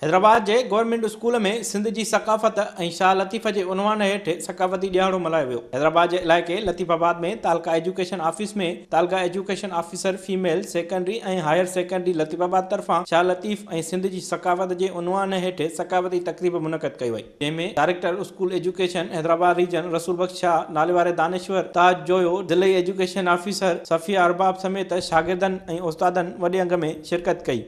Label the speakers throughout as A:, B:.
A: حيدرآباد جي government school ۾ Sindh جي ثقافت ۽ شاهه لطيف جي عنوان هيٺ ثقافتي ڏيهاڙو ملهايو ويو. حيدرآباد جي علائقي لطيف آباد ۾ تعلقه ايجوڪيشن آفيس ۾ تعلقه education officer female secondary ۽ higher secondary Latifabad طرفان شاهه لطيف ۽ سنڌ جي ثقافت جي عنوان هيٺ ثقافتي تقريب منعقد ڪئي وئي جنهن ۾ director school education Hyderabad region Rasool Bakhsh Shah, ناليواري دانشور تاج جويو، ضلعي ايجوڪيشن آفيسر صفيه ارباب سميت شاگردن ۽ استادن وڏي انگ ۾ شرڪت ڪئي.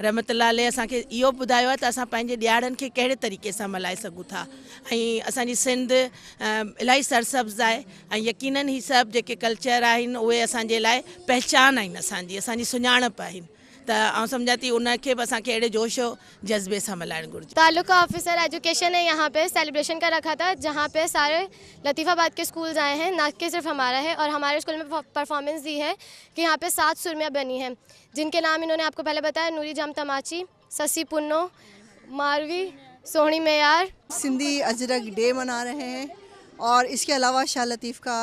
B: رحمت الله عليه اسان کي اهو ٻڌايو آهي ته اسان پنهنجي ڏيهاڙن کي ڪهڙي طريقي سان ملهائي سگهون ٿا ۽ اسان جي سنڌ الاهي سرسبز آهي ۽ يقينن هي سڀ جيڪي ڪلچر آهن اهي اسان جي لاء پهچان آهن اسان جي اسان جي سڃاڻپ آهن ته آئون سمجهان ٿي ان کي به اسان کي اهڙي جوش و جذبي سان ملهائڻ گهرجي. تعلقه آفيسر
C: ايجوڪيشن ني يهان پي سيلبريشن ڪر رکا ٿا جهان پي ساري لطيف آباد ڪي اسڪولز آئي هين نا ڪي صرف همارا هي اور هماري اسڪول مي پرفارمنس دي هي ڪي يهان پي سات سرميا بني هي. جن ڪي نام انھون ني آپ ڪو پھلي بتايا نوري جام تماچي، سسي پنو، ماروي، سوھڻي ميار. سندي اجرڪ
D: ڊي منا رھي ھين اور اس ڪي علاوه شاھ لطيف ڪا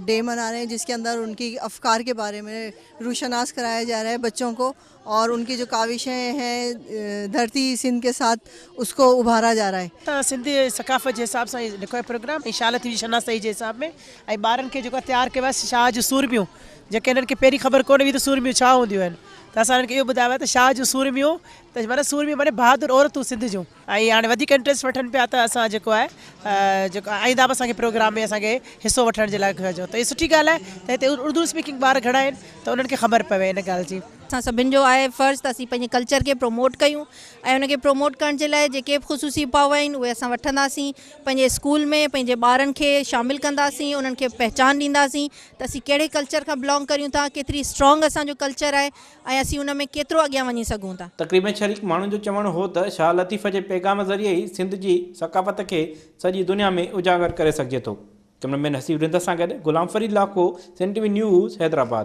D: ڊي منا رھي ھين جس ڪي اندر ان ڪي افڪار ڪي باري مي روشناس ڪرايا جا رھا ھين بچو ڪو اور ان ڪي جو ڪاوشين ھين ڌرتي سنڌ ڪي ساٿ اس ڪو ابھارا جا رھا ھين. سنڌي ثقافت جي
E: حساب سان ھي لکيو آھي پروگرام ۽ شاھ لطيف جي شناسائي جي حساب ۾ ۽ ٻارن کي جيڪو آھي تيار ڪيو آھي شاھ جون سورميون. جيڪي هنن کي پهرين خبر ڪونه هئي ته سورميون ڇا هونديون آهن ته اسان هنن کي اهو ٻڌايو آهي ته شاهه جون سورميون ته معنيٰ سورميون معنيٰ بهادر عورتون سنڌ جون. ۽ هاڻي وڌيڪ انٽريسٽ وٺن پيا ته اسان جيڪو آهي جيڪو آئنده به اسان کي پروگرام ۾ اسان کي حصو وٺڻ جي لاء ته هي سٺي ڳالهه آهي ته هتي اردو اسپيڪنگ ٻار گهڻا آهن ته انهن کي خبر پوي ان ڳالهه جي. اسان سڀن جو آهي
F: فرض ته اسين پنهنجي ڪلچر کي پروموٽ ڪيون ۽ ان کي پروموٽ ڪرڻ جي لاء جيڪي به خصوصي اپاء آهن اهي اسان وٺنداسين پنهنجي اسڪول ۾ پنهنجي ٻارن کي شامل ڪنداسين انهن کي پهچان ڏينداسين ته اسين ڪهڙي ڪلچر کان بلانگ ڪريون ٿا، ڪيتري اسٽرانگ اسان جو ڪلچر آهي ۽ اسين ان ۾ ڪيترو اڳيان وڃي سگهون ٿا. تقريب ۾ شريڪ ماڻهن جو
A: چوڻ هو ته شاهه لطيف جي پيغام ذريعي ئي سنڌ جي ثقافت کي سڄي دنيا ۾ اجاگر ڪري سگهجي ٿو. ڪئميرا مين حسيب رند سان گڏ Ghulam Farid Lakho, Sindh T V news, Hyderabad.